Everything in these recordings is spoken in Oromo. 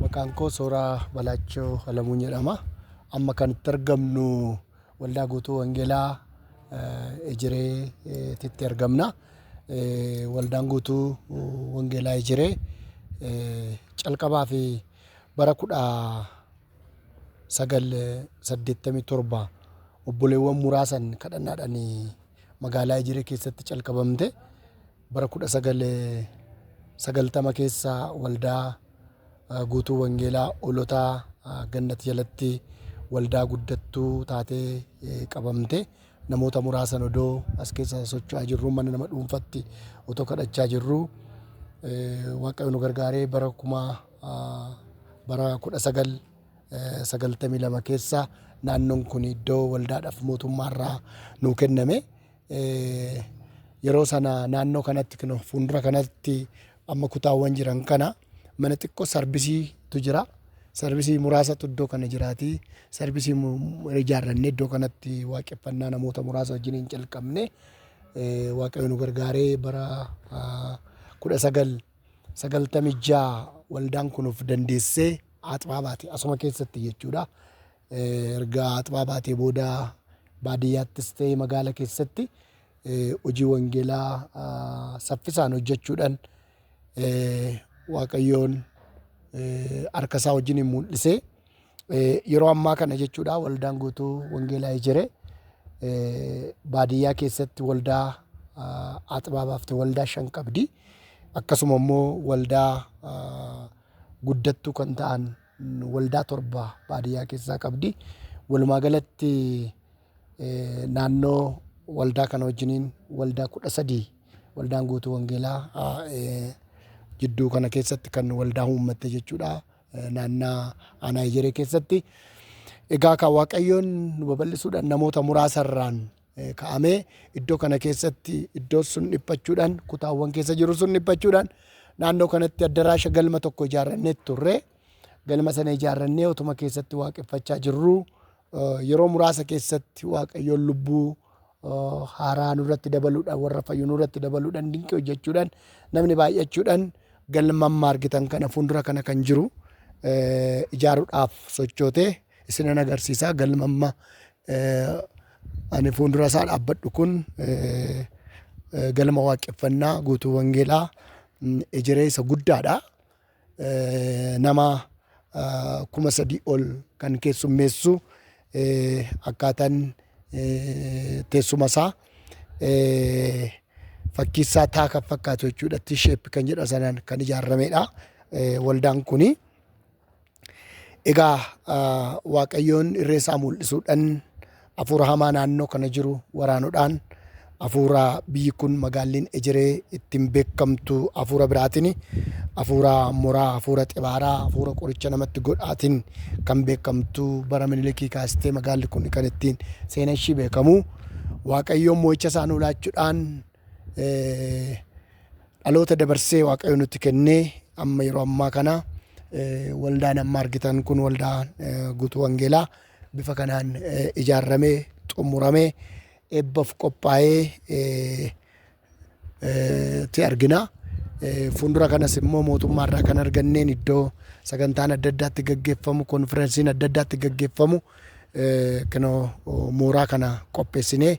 Maqaan koo Sooraa Balaachoo Alamuu jedhama. Amma kan itti argamnu Waldaa Guutuu Wangeelaa eh, Ejiree eh, titti argamna. Eh, Waldaan Guutuu Wangeelaa Ejiree eh, calqabaa fi bara kudha 9, 87, obboleewwan muraasan kadhannaadhaan magaalaa Ejiree keessatti calqabamte bara 1990 keessa waldaa ah, guutuu wangeelaa olotaa ah, gannat jalatti waldaa guddattuu taatee eh, qabamte namoota muraasan odoo as keessa socho'aa jirruu mana nama dhuunfatti otoo kadhachaa jirruu Eh, waaqayyo nu gargaaree bara kuma Bara 1992 keessa naannoon kun iddoo waldaadhaaf mootummaarraa nuu kenname. Yeroo sana naannoo kanatti kun fuuldura kanatti amma kutaawwan jiran kana mana xiqqoo sarbisiitu jira. Sarbisii muraasatu iddoo kana jiraati. Sarbisii mu- ijaarrannee iddoo kanatti waaqeffannaa namoota muraasa wajjin hin calqabne. Eh, Waaqayyo nu gargaaree bara ah, 19 96 waldaan kun of dandeessee aaxbaa baate asuma keessatti jechuudha. Eh, Erga aaxbaa baatee booda baadiyyaattis ta'e magaala keessatti eh, hojii wangeelaa ah, saffisaan hojjechuudhaan eh, Waaqayyoon eh, harka isaa wajjin mul'isee Yeroo ammaa kana jechuudha waldaan guutuu wangeelaa ijire baadiyyaa keessatti waldaa Axbaa baafte waldaa shan qabdi. Akkasuma immoo waldaa guddattuu kan ta'an waldaa torba baadiyyaa keessaa qabdi. Walumaa galatti naannoo waldaa kana wajjiniin waldaa kudha sadii waldaan guutuu wangeelaa jidduu kana keessatti kan waldaa uummatte jechuudha. naannaa aanaa ejeree keessatti egaa kan waaqayyoon nu babal'isuudhaan namoota muraasa irraan eh, ka'amee iddoo kana keessatti iddoo sun dhiphachuudhaan kutaawwan keessa jiru sun dhiphachuudhaan naannoo kanatti addaraasha galma tokko ijaarrannee turre galma sana ijaarrannee otuma keessatti waaqeffachaa jirru eh, yeroo muraasa keessatti waaqayyoon lubbuu haaraa nurratti dabaluudhaan warra fayyu nurratti dabaluudhaan dinqii hojjechuudhaan namni baay'achuudhaan galma amma argitan kana fuuldura kana kan jiru ijaaruudhaaf sochootee isinan agarsiisaa galma amma ani fuuldura isaa dhaabbadhu kun galma waaqeffannaa guutuu wangeelaa ejeree isa guddaadha. nama kuma sadii ol kan keessummeessu akkaataan teessuma isaa fakkiisaa taa kan fakkaatu jechuudha. T-shape kan jedha sanaan kan ijaarameedha waldaan kuni. Egaa Waaqayyoon irree isaa mul'isuudhaan Afuura hamaa naannoo kana jiru waraanudhaan afuura biyyi kun magaalliin ejeree ittiin beekamtu afuura biraatiin afuura moraa afuura xibaaraa afuura qoricha namatti godhaatiin kan beekamtu bara minilikii kaastee magaalli kun kan ittiin seena ishii beekamu waaqayyoon mo'icha isaa nuu laachuudhaan dhaloota dabarsee waaqayyo nutti kennee amma yeroo ammaa kana waldaan amma argitan kun waldaa guutuu wangeelaa bifa kanaan ijaarramee xumuramee eebbaf qophaa'ee ti argina. Fuundura kanas immoo mootummaa irraa kan arganneen iddoo sagantaan adda addaatti gaggeeffamu, konfirensiin adda addaatti gaggeeffamu mooraa kana qopheessinee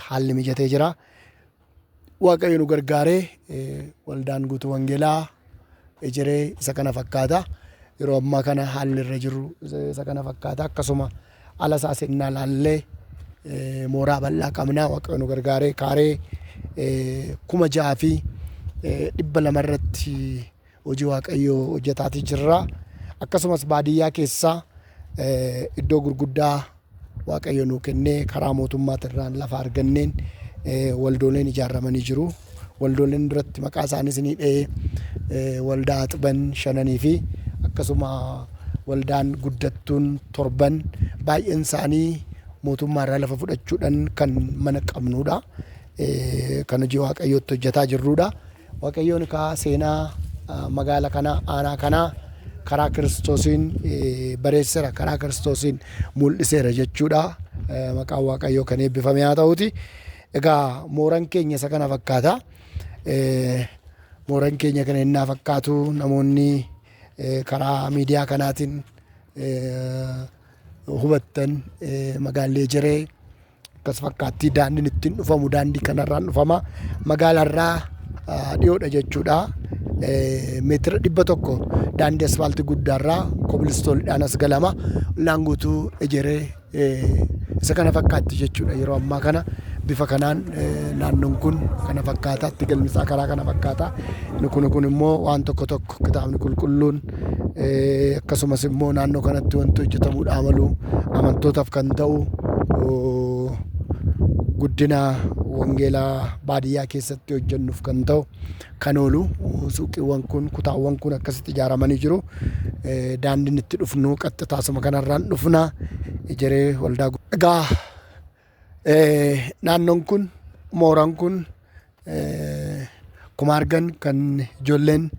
haalli mijatee jira. Waaqayyo nu gargaaree waldaan guutuu wangeelaa ejeree isa kana fakkaata. Yeroo ammaa kana haalli irra jiru isa kana fakkaata. Akkasuma ala isaa sennaa laallee mooraa bal'aa qabnaa waaqayyo nu gargaaree kaaree kuma ja'a fi dhibba lama irratti Hojii Waaqayyoo hojjetaatii jirra. Akkasumas baadiyyaa keessa iddoo gurguddaa Waaqayyo nuu kennee karaa mootummaatirraan lafa arganneen waldooleen ijaarramanii jiru. Waldooleen irratti maqaa isaaniis ni dha'ee waldaa Axban shananii fi akkasuma waldaan guddattuun torban baay'een isaanii mootummaarraa lafa fudhachuudhaan kan mana qabnuudha. Kan hojii Waaqayyootti hojjetaa jirruudha. Waaqayyoon kaa seenaa magaala kanaa, aanaa kanaa karaa Kiristoosiin bareessera, karaa Kiristoosiin mul'iseera jechuudha. Maqaan Waaqayyoo kan eebbifame haa ta'uuti. Egaa mooran keenya isa kana fakkaata. Mooran keenya kana innaa fakkaatu namoonni karaa miidiyaa kanaatiin hubattan magaallee jiree akkas fakkaattii daandiin ittiin dhufamu daandii kanarraan dhufama magaalaarraa dhiyoodha jechuudha meetira dhibba tokko daandii asfaaltii guddaarraa kobilistoonidhaan as galama ollaan guutuu ejeree isa kana fakkaatti jechuudha yeroo ammaa kana bifa kanaan naannoon kun kana fakkaata itti galmisaa karaa kana fakkaata kun kun immoo waan tokko tokko Kitaabni Qulqulluun, akkasumas immoo naannoo kanatti wanti hojjetamuudhaa malu, amantootaaf kan ta'u guddina wangeelaa baadiyyaa keessatti hojjennuuf kan ta'u kan oolu suuqiiwwan kun, kutaawwan kun akkasitti ijaaramanii jiru. Daandiin itti dhufnu qaxxitaasuma kanarraan dhufna. Ejeree Waldaa Egaa Naannoon kun mooraan kun akkuma argan kan ijoolleen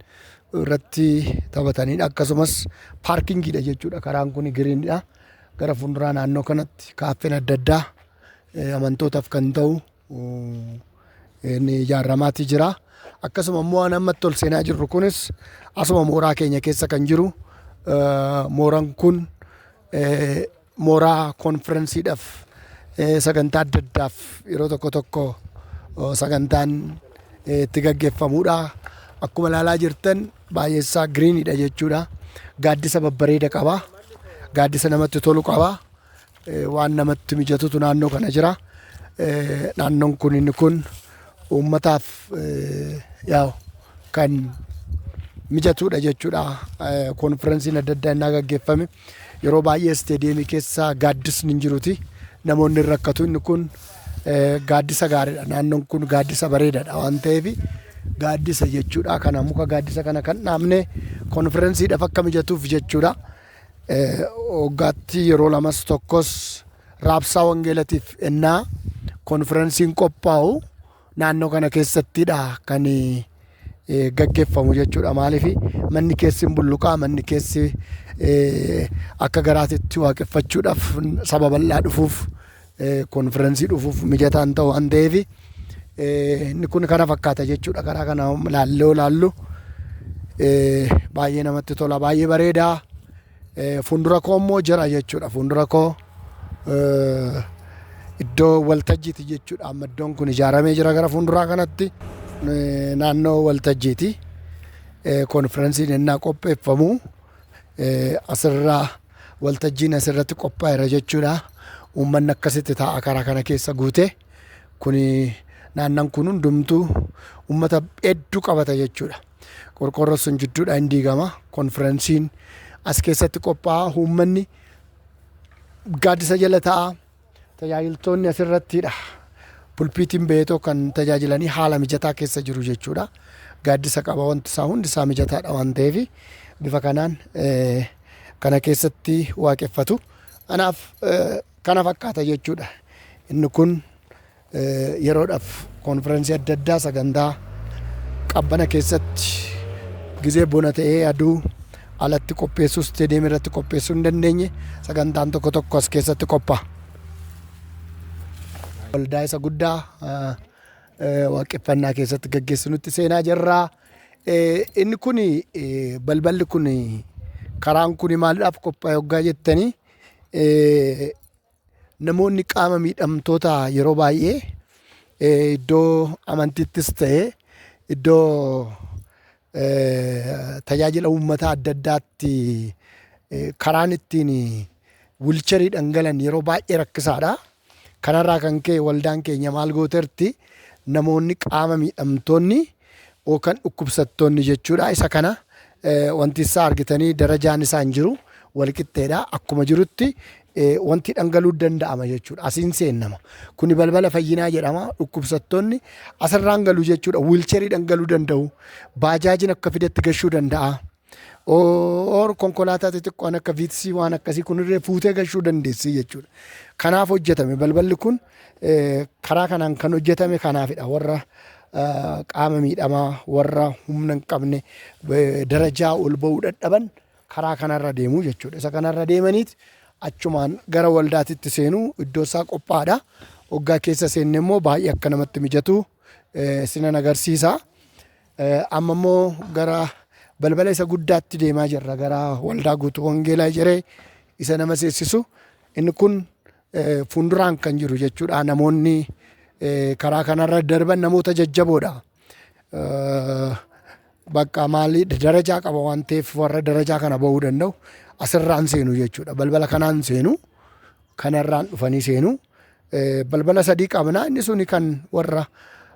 irratti taphatanidha. Akkasumas paarkingiidha jechuudha. Karaan kun giriinidha. Gara fuulduraa naannoo kanatti kaaffeen adda addaa amantootaaf kan ta'u inni ijaarramaatii jira. Akkasuma immoo waan ammatti ol seenaa jirru kunis asuma mooraa keenya keessa kan jiru mooraan kun Mooraa konfiransiidhaf, sagantaa adda addaaf yeroo tokko tokko sagantaan itti gaggeffamuudha. Akkuma ilaalaa jirtan baay'eessaa giriiniidha jechuudha. Gaaddisa babbareeda qaba. Gaaddisa namatti tolu qaba. Waan namatti mijatutu naannoo kana jira. Naannoon kun inni kun uummataaf yaa'u kan mijatuudha jechuudha. Konfiransiin adda addaa innaa gaggeeffame. Yeroo baay'ee isteediyeemii keessa gaaddisni hin jiruti. Namoonni hin rakkatu. Inni kun gaaddisa gaariidha. Naannoon kun gaaddisa bareedaadha waan ta'eef gaaddisa jechuudha. Kana muka gaaddisa kana kan dhaabne konfirensiidhaaf akka mijatuuf jechuudha. Waggaatti yeroo lamas tokkos raabsaa wangeelatiif ennaa konfirensiin qophaa'u naannoo kana keessattidha kan gaggeffamu jechuudha. Maaliif manni keessi hin bulluqaa, manni keessi akka garaatitti waaqeffachuudhaaf saba bal'aa dhufuuf konfirensii dhufuuf mijataa hin ta'u waan ta'eef inni kun kana fakkaata jechuudha. Karaa kana laallee olaallu baay'ee namatti tola, baay'ee bareedaa. Fuundura koo immoo jira jechuudha. Fuundura koo iddoo waltajjiiti jechuudha. Amma iddoon kun ijaaramee jira gara fuunduraa kanatti. Naannoo waltajjiiti. Konfiransiin ennaa qopheeffamu asirraa waltajjiin asirratti qophaa'eera jechuudha. Uummanni akkasitti taa'a karaa kana keessa guute. Kuni naannan kun hundumtuu uummata hedduu qabata jechuudha. Qorqoorroon sun jidduudhaa hin diigama. Konfiransiin as keessatti qophaa'a. Uummanni gaaddisa jala ta'a. Tajaajiltoonni asirrattidha. Pulpiitiin ba'eetoo kan tajaajilanii haala mijataa keessa jiru jechuudha. Gaaddisa qaba wanti isaa hundi isaa mijataadha waan ta'eef bifa kanaan eh, kana keessatti waaqeffatu. Kanaaf eh, kana fakkaata jechuudha. Inni kun Yeroodhaf konfirensii adda addaa sagantaa qabbana keessatti gizee bona ta'ee aduu alatti qopheessuu stadium irratti qopheessuu hin dandeenye sagantaan tokko tokko as keessatti qophaa'a. Waldaa isa guddaa waaqeffannaa keessatti gaggeessinutti seenaa jirraa. Inni kun balballi kun karaan kun maaliidhaaf qophaa'e hoggaa jettanii Namoonni qaama miidhamtoota yeroo baay'ee eh, iddoo amantiittis ta'e iddoo eh, tajaajila uummataa adda addaatti eh, karaan ittiin wilcharii dhangalan yeroo baay'ee rakkisaadha. Kanarraa kan ka'e waldaan keenya maal gooterti namoonni qaama miidhamtoonni o Kan dhukkubsattoonni jechuudha. Isa kana wanti isaa argitanii darajaan isaa hin jiru. Walqixxeedha. Akkuma jirutti wanti dhangaluu danda'ama jechuudha. Asiin seennama. Kuni balbala fayyinaa jedhama. Dhukkubsattoonni asirraan galu jechuudha. Wiilcherii dhangaluu danda'u. Baajaajiin akka fidetti gashuu danda'a. Or konkolaataa xixiqqoon akka viitsii waan akkasii kunirree fuutee gashuu dandeessii jechuudha. Kanaaf hojjetame balballi kun eh, karaa kanaan kan hojjetame kanaafidha warra eh, qaama miidhamaa warra humna hin qabne eh, darajaa ol ba'uu dadhaban karaa kanarra deemuu jechuudha. Isa kanarra deemaniit achumaan gara waldaatitti seenuu iddoo isaa qophaa'aadha. Hoggaa keessa seenne immoo baay'ee akka namatti mijatu eh, sinan agarsiisa. Amma immoo gara balbala isa guddaatti deemaa jirra. Gara waldaa guutuu wangeelaa ejeree isa nama seessisu. Inni kun eh, fuulduraan kan jiru jechuudha. Namoonni eh, karaa kanarra darban namoota jajjaboodha. Eh, Bakka maalii darajaa qaba waan ta'eef warra darajaa kana ba'uu danda'u asirraan seenu jechuudha. Balbala kanaan seenu kanarraan dhufanii seenu. Balbala sadii qabna. Inni suni kan warra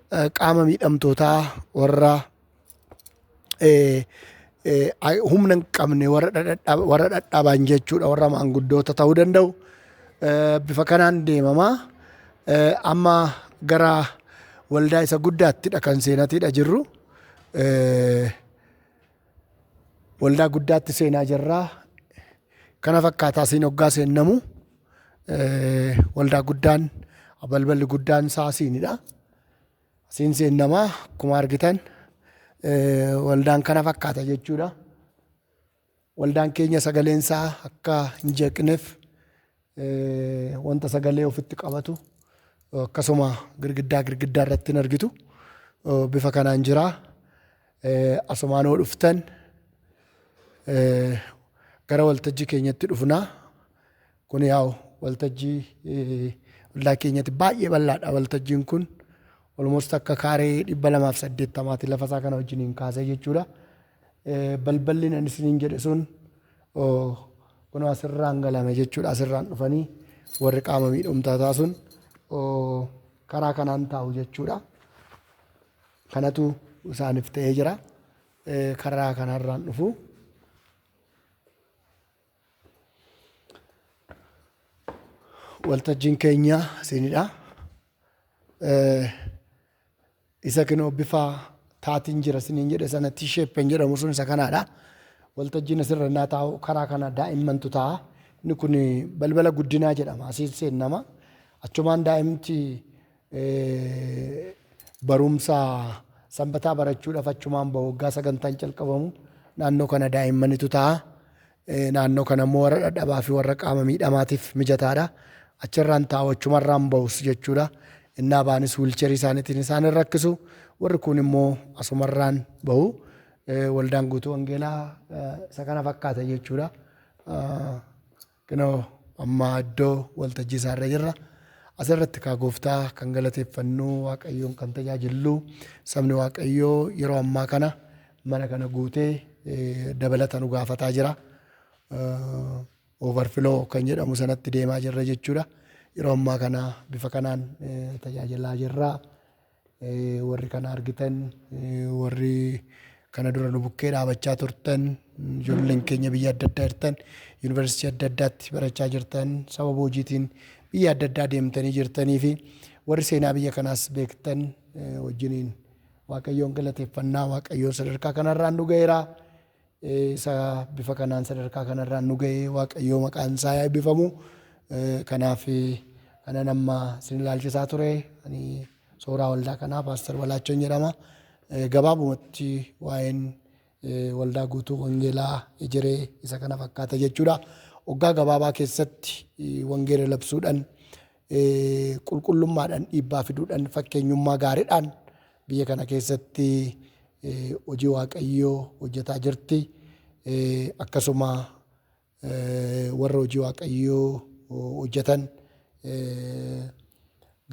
qaama miidhamtootaa, warra humna hin qabne, warra dhadhaban jechuudha, warra maanguddoota ta'uu danda'u. Bifa kanaan deemama. Amma gara waldaa isa guddaattidha kan seenatiidha jirru. Waldaa guddaatti seenaa jirra. Kana fakkaataa siin hoggaa seennamu waldaa guddaan balballi guddaan isaa asiinidha. Asiin seennamaa akkuma argitan waldaan kana fakkaata jechuudha. Waldaan keenya sagaleen isaa akka hin jeeqneef wanta sagalee ofitti qabatu akkasuma girgiddaa girgiddaa irratti hin argitu. Bifa kanaan jira. Asumaan yoo dhuftan gara waltajjii keenyatti dhufna. Kun yaa'u waltajjii ollaa keenyatti baay'ee bal'aadha waltajjiin kun. Olmost akka kaaree dhibba lamaaf saddeettamaati lafa isaa kana wajjiniin kaasee jechuudha. Balballi nan isiniin jedhe sun Oh kunoo asirraan galame jechuudha asirraan dhufanii warri qaama miidhumtaa taa sun oh, karaa kanaan taa'u jechuudha kanatu isaaniif ta'ee jira Eh, karaa kanarraan dhufu waltajjiin keenya siinidha Eh, Isa kinoo bifa taatiin jira isiniin jedhe sana T-shapen jedhamu sun isa kanaadha. Waltajjiin asirra innaa taa'u karaa kana daa'immantu taa'a. Inni kun balbala guddinaa jedhama. Asiin seennama. Achumaan daa'imti barumsa sanbataa barachuudhaaf achumaan bahu waggaa sagantaan calqabamu naannoo kana daa'immanitu taa'a. Naannoo kana immoo warra dhadhabaa fi warra qaama miidhamaatiif mijataa dha. Achi irraan taa'u, achuma irraan bahus jechuu dha. Innaa ba'anis wiilcheerii isaaniitiin isaan hin rakkisu. Warri kuun immoo asuma irraan bahu. Waldaan Guutuu Wangeelaa isa kana fakkaata jechuu dha. Kunoo amma iddoo waltajjii isaa irra jirra. As irratti kaa gooftaa kan galateeffannu, Waaqayyoon kan tajaajillu, sabni Waaqayyoo yeroo ammaa kana mana kana guutee dabalata nu gaafataa jira. Overflow kan jedhamu sanatti deemaa jirra jechuudha. Yeroo ammaa kana bifa kanaan tajaajilaa jirra. Warri kana argitan, warri kana dura nu bukkee dhaabachaa turtan, ijoolleen keenya biyya adda addaa jirtan, yuunivarsiitii adda addaatti barachaa jirtan, sababa hojiitiin biyya adda addaa deemtanii jirtanii fi warri seenaa biyya kanaas beektan wajjiniin Waaqayyoon galateeffannaa Waaqayyoo sadarkaa kanarraan nu ga'eera. Isa bifa kanaan sadarkaa kanarraan nu ga'ee Waaqayyoo maqaan isaa yaa eebbifamu. Kanaaf kanan amma isin ilaalchisaa ture ani sooraa waldaa kanaa Paaster Balaachoon jedhama. Gabaabumatti waa'een waldaa guutuu wangeelaa ejeree isa kana fakkaata jechuudha. Waggaa gabaabaa keessatti wangeela labsuudhaan qulqullummaadhan dhiibbaa fiduudhan fakkeenyummaa gaaridhaan biyya kana keessatti hojii waaqayyoo hojjetaa jirti. Akkasuma warra hojii waaqayyoo hojjetan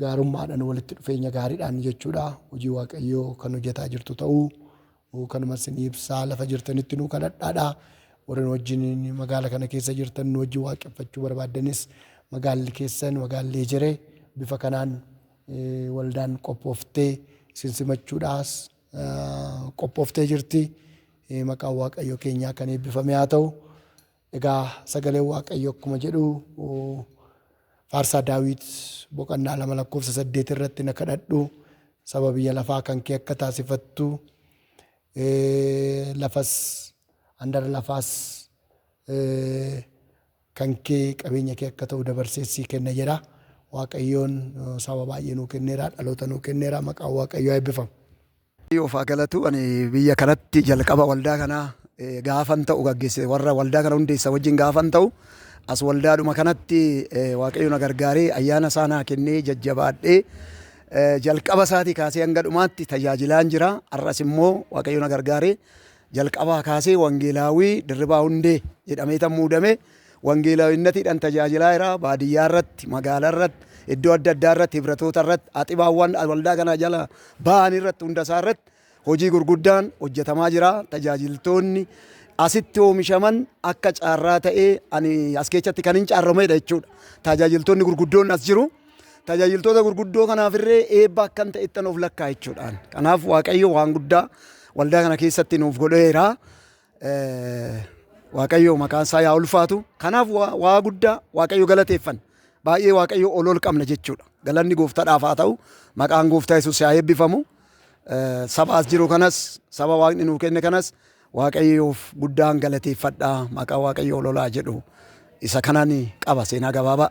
gaarummaadhan walitti dhufeenya gaariidhaan jechuudha hojii waaqayyoo kan hojjetaa jirtu ta'uu Nuu kanuma isin ibsaa lafa jirtanitti nuu kadhadhaadha. Warri nu wajjin magaala kana keessa jirtan nu wajjin waaqeffachuu barbaaddanis magaalli keessan magaalli ejeree bifa kanaan eh, waldaan qophooftee isin simachuudhaas ah, qophooftee jirti. Eh, Maqaan Waaqayyo keenyaa kan eebbifame haa ta'u. Egaa sagaleen Waaqayyo akkuma jedhu faarsaa Daawit boqonnaa 2 lakkoofsa 8 irratti na kadhadhu saba biyya lafaa kan kee akka taasifattu lafas handara lafaas kan kee qabeenya kee akka ta'u dabarsee sii kenna jedha. Waaqayyoon saba baay'ee nuu kenneera dhaloota nuu kenneera maqaan Waaqayyoo eebbifamu. Waaqayyoof haa galatu ani biyya kanatti jalqaba waldaa kana gaafan ta'u gaggeesse warra waldaa kana hundeessa wajjin gaafan ta'u as waldaadhuma kanatti waaqayyo na gargaaree ayyaana isaa naa kennee jajjabaadhee jalqaba isaatii kaasee hanga dhumaatti tajaajilaan jira har'as immoo waaqayyo na gargaaree Jalqabaa kaasee Wangeelaawwii Dirribaa Hundee jedhameetan muudame. Wangeelawinnatiidhan tajaajilaa jira. Baadiyyaa irratti, magaala irratti, iddoo adda addaa irratti, hibratoota irratti, axibaawwan waldaa kana jala ba'an irratti hunda isaa irratti hojii gurguddaan hojjetamaa jira. Tajaajiltoonni asitti oomishaman akka caarraa ta'ee ani as keessatti kanin caarrameedha jechuudha. Tajaajiltoonni gurguddoon as jiru. Tajaajiltoota gurguddoo kanaaf irree eebba akkan ta'ettan of lakkaa jechuudhaan. Kanaaf Waaqayyo waan guddaa waldaa kana keessatti nuuf godheera. Waaqayyo maqaan isaa yaa ulfaatu. Kanaaf waa guddaa Waaqayyo galateeffan. Baay'ee Waaqayyo ol ol qabna jechuudha. Galanni gooftaadhaaf haa ta'u. Maqaan gooftaa Yesuus yaa eebbifamu. Saba as jiru kanas, saba Waaqni nuu kenne kanas Waaqayyoof guddaan galateeffadha. Maqaa Waaqayyo ol olaa jedhu isa kanaan qaba seenaa gabaabaa.